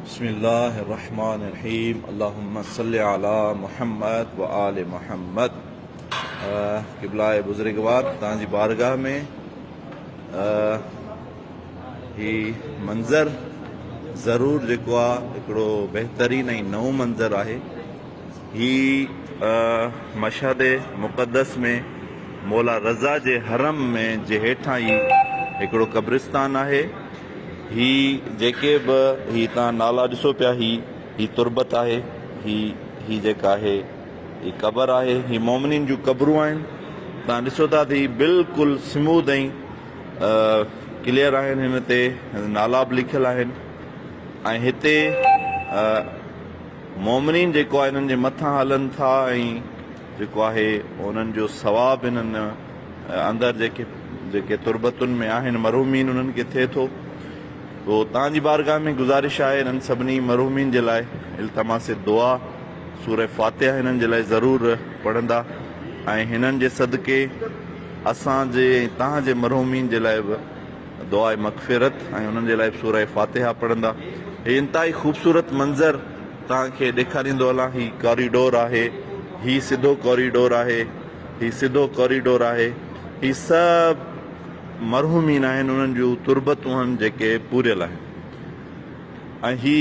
بسم الله الرحمٰن الرحيم اللهم صل علي محمد وآل محمد قبلائ بزرگوار تان جي بارگاھ ۾ هي منظر ضرور جيڪو آ هڪڙو بهترين ۽ نئون منظر آهي هي مشهد مقدس ۾ مولا رضا جي حرم ۾ جي هيٺان ئي هڪڙو قبرستان آهي هي جيڪي به هي توهان نالا ڏسو پيا هي هي تربت آهي هي هي جيڪا آهي هي قبر آهي هي مومنين جون قبرون آهن توهان ڏسو ٿا ته هي بلڪل سموڌ ۽ ڪليئر آهن هن تي نالا به لکيل آهن ۽ هتي مومنين جيڪو آهي هنن جي مٿان هلن ٿا ۽ جيڪو آهي انهن جو ثواب انهن اندر جيڪي جيڪي تربتن ۾ آهن مرحومين انهن کي ٿئي ٿو تو توهان جي بارگاهه ۾ گذارش آهي انهن سڀني مرحومين جي لاء التماس دعا سوره فاتحه هنن جي لاء ضرور پڙهندا ۽ هنن جي صدقي اسان جي ۽ توهان جي مرحومين جي لاء به دعا مغفرت ۽ انهن جي لاء به سوره فاتحه پڙهندا هي انتهائي خوبصورت منظر توهان کي ڏيکاريندو هلان هي ڪاريڊور آهي هي سڌو ڪاريڊور آهي هي سڌو ڪاريڊور آهي هي سڀ مرحومين آهن انهن جون تربتون آهن جيڪي پوريل آهن ۽ هي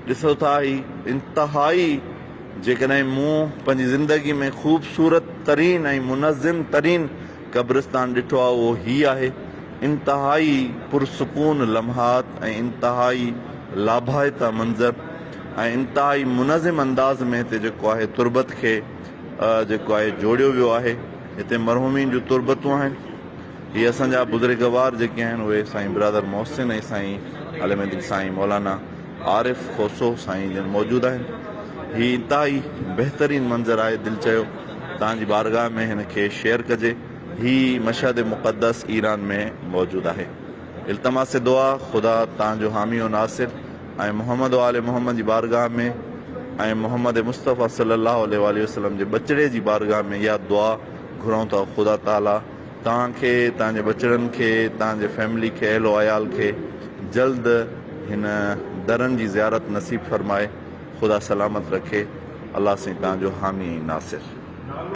ڏسو ٿا هي انتهائي جيڪڏهن مون پنهنجي زندگي ۾ خوبصورت ترين ۽ منظم ترين قبرستان ڏٺو آهي اهو هي آهي. انتهائي پرسڪون لمحات ۽ انتهائي لاڀائتا منظر ۽ انتهائي منظم انداز ۾ هتي جيڪو آهي تربت کي جيڪو آهي جوڙيو ويو آهي. هتي مرحومين جون تربتون آهن. هي اسان جا بزرگوار جيڪي آهن اهي سائين برادر محسن ۽ سائين علم الدين سائين مولانا. عارف کوسو سائين جن موجود آهن هي انتهائي بهترين منظر آهي دل چيو توهان جي بارگاهه ۾ هن کي شيئر ڪجي هي مشهد مقدس ايران ۾ موجود آهي التماس دعا خدا توهان جو حامي و ناصر ۽ محمد و آل محمد جي بارگاهه ۾ ۽ محمد مصطفيٰ صلي الله عليه وآله وسلم جي ٻچڙي جي بارگاهه ۾ اها دعا گهرون ٿا خدا تعالي توهان کي، توهان جي ٻچڙن کي، توهان جي فيملي کي، اهل و عيال کي جلد هن درن جي زيارت نصيب فرمائي، خدا سلامت رکي، الله سائين توهان جو حامي ۽ ناصر.